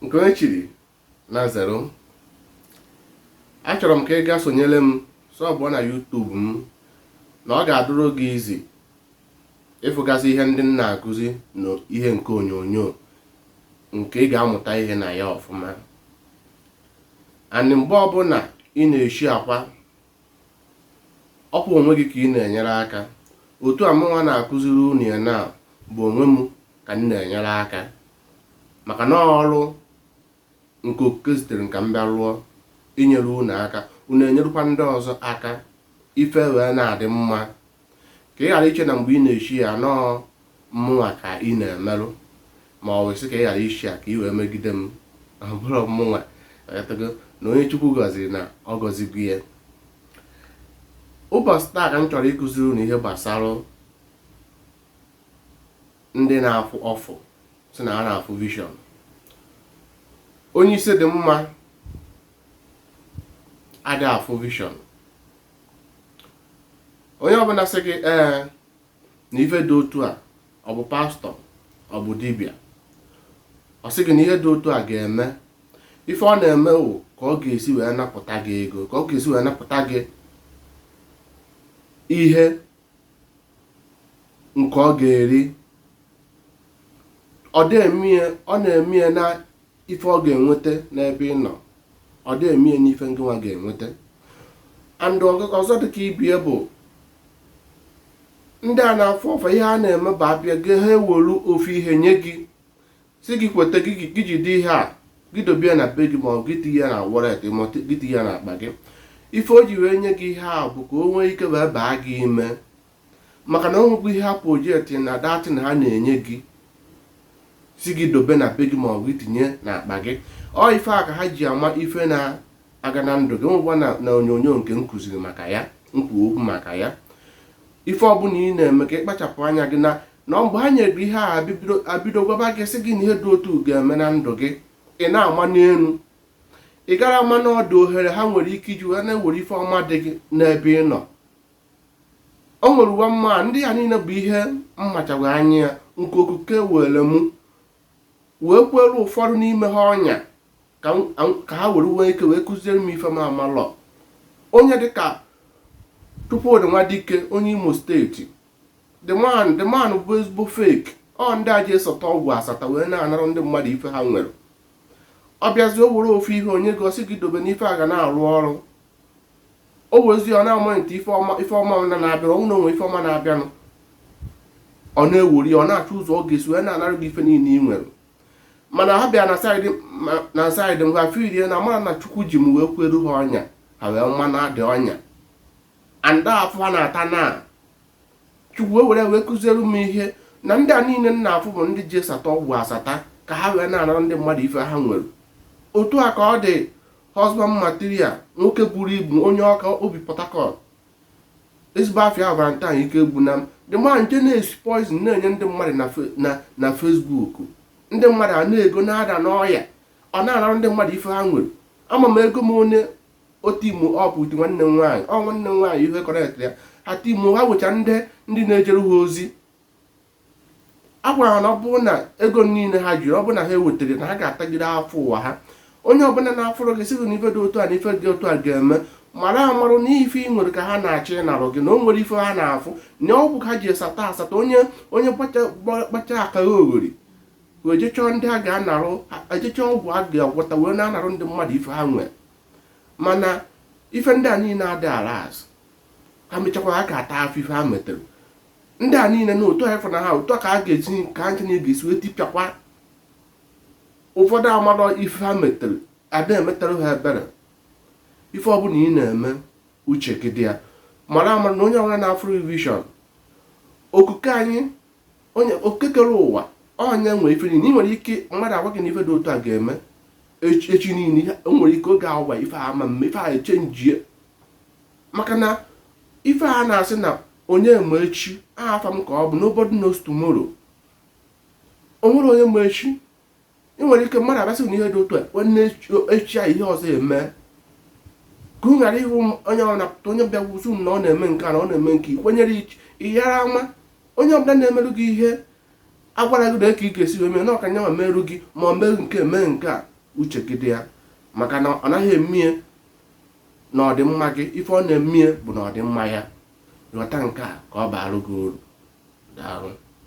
nke onye chiri na zero achọrọ m ka ị gaa sonyere m sọbụọ na YouTube m na ọ ga-adụrụ gị easy ịfụgasị ihe ndị m na-akụzi na ihe nke onyonyo nke ị ga-amụta ihe na ya ọfụma and mgbe ọbụla ị na-eshiakwa ọ kwa onwe gị ka ị na-enyere aka otu a mụnwa na-akụziri unu ya na bụ onwe m ka m na-enyere aka maka na ọ ọrụ nke okike zitere m ka m bịa rụọ inyere unu aka unu enyerụkwa ndị ọzọ aka ife wee na-adị mma ka ị ghara iche na mgbe ị na-eshia ya na ọ mụnwa ka ị na-emerụ ma ọ wụ ị sị ka ị ghara ịshia ya ka ị wee megide m ọ bụrọ mụnwa na onye Chukwu gọziri na ọ gọzigo ya ụbọchị taa ka m chọrọ ịkụziri unu ihe gbasara ndị na-afụ ọfụ sị na ha na-afụ vision onye isi dị mma adị afụ vision onye ọbụla sị gị ee na ife dị otu a ọ bụ pastor ọ bụ dibịa ọ sị gị na ihe dị otu a ga-eme ife ọ na-eme wụ ka ọ ga-esi wee napụta gị ego ka ọ ga-esi wee napụta gị ihe nke ọ ga-eri ọ na-eme ya na ife ọ ga-enweta n'ebe ị nọ ọ dị eme ya n'ife ngịnwa ga-enweta and ọzọ dịka ibe ya bụ ndị a na-afụ ọfụ a ihe ha na-eme bụ a bịa gị ha ewelu ofu ihe nye gị sị gị kweta gị jide ihe a gị dobe ya na be gị ma ọ gị tinye ya na wallet ma gị tinye ya na akpa gị ife o ji wee nye gị ihe a bụ ka o nwee ike wee baa gị ime maka na o nwekwa ihe ha projekti na that thing ha na-enye gị sị gị dobe na be gị ma ọ bụ itinye n'akpa gị ọ ife a ka ha ji ama ife na-aga na ndụ gị nwekwa na na onyonyo nke m kụziri maka ya m kwuo okwu maka ya ife ọbụla ị na-eme ka ị kpachapụ anya gị na na mgbe ha nyere gị ihe a abibido- abido gwaba gị sị gị na ihe dị otu a ga-eme na ndụ gị ị na-ama n'elu ị gara ama na ọ dụ ohere ha nwere ike iji wee na-ewere ife ọma dị gị n'ebe ị nọ o nwere uwe mma ndị a niile bụ ihe m machaghị anya ya nke okike were mụ wee kwere ụfọdụ n'ime ha ọnya ka m- m- ka ha were nwee ike wee kụziere m ife m amalọ onye dịka Chukwudi Nwadike onye Imo steeti the man the man bụ ezigbo fake ọ ndị a ji esọta ọgwụ asata wee na-anara ndị mmadụ ife ha nwere ọ bịazi o were ofu ihe o nye gị ọ sị gị dobe na ife a ga na-arụ ọrụ o wezi ọ na-amonitor ife ọma ife ọma na na-abịa ọ hụ na o nwe ife ọma na-abịanụ ọ na-ewuri ọ na-achọ ụzọ ọ ga-esi wee na-anarụ gị ife niile ị nwere mana ha bịa na saịdị na saịdị m ha failie na amarọ na chukwu ji m wee kweru ha ọnya ha wee ma na adị ọnya anda afụfụ ha na-ata na chukwu wee were wee kụziere m ihe na ndị a niile m na-afụ bụ ndị ji esata ọgwụ asata ka ha wee na-anara ndị mmadụ ife ha nwere otu a ka ọ dị husband material nwoke buru ibu onye Ọka o bi Port Harcourt ezigbo afa ya Valentine Ikegbunam the man nke na-esi poison na-enye ndị mmadụ na Facebook ndị mmadụ a na-ego na-ada n'ọya ọ na-anara ndị mmadụ ife ha nwere ama m ego m onye otu imo ọ bụ nwanne m nwaanyị ọ nwanne m nwaanyị ihe kọrekt ya ha timo ha wecha ndị ndị na-ejere ha ozi a gwara ha na ọ bụrụ na ego niile ha jiri ọ bụrụ na ha ewetarọ na ha ga-atagide afụfụ ụwa ha onye ọbụla na-afụrụ gị sị gị na ife dị otu a na ife dị otu a ga-eme mara amara na ife ị nwere ka ha na-achọ ịnarụ gị na o nwerọ ife ha na-afụ na ọgwụ ka ha ji esata asata onye onye gbacha aka ya oghori wee jechọọ ndị a ga-anarụ ejechọọ ọgwụ a ga-agwọta wee na-anarụ ndị mmadụ ife ha nwere mana ife ndị a niile adị ala azụ ha mechakwa ha ga-ata afụfụ ife ha metere ndị a niile na otu ha na ha otu a ka ha ga-esi ka ha ncha ga-esi wee tipịakwa ụfọdụ amarọ ife ha metere ada emetere ha ebere ife ọbụla ị na-eme uche gị dị ya mara amara na onye ọbụla na-afụrụ vision okike anyị onye okekere ụwa onye nwere ife niile ị nwere ike mmadụ agwa gị na ife dị otu a ga-eme echi niile nwere ike oge awa ife a ama mme ife a echenjie maka na ife a na-asị na onye ma echi aha afa m ka ọ bụ nobody knows tomorrow o nwerọ onye ma echi ị nwere ike mmadụ abịa sị na ihe dị otu a ga-eme echi a ihe ọzọ eme ka ị ghara ịhụ onye ọ na-apụta onye bịa gwa sị na ọ na-eme nke a na ọ na-eme nke i kwenyere ị ghara ama onye ọbụla na-emerụ gị ihe agwara gị na ka ị ga-esi wee mee na ọ ka nya nwa merụ gị ma ọ mee nke mee nke a uche gị dị ya maka na ọ naghị emie na ọdịmma gị ife ọ na-emie bụ na ọdịmma ya ghọta nke a ka ọ baara gị uru daalụ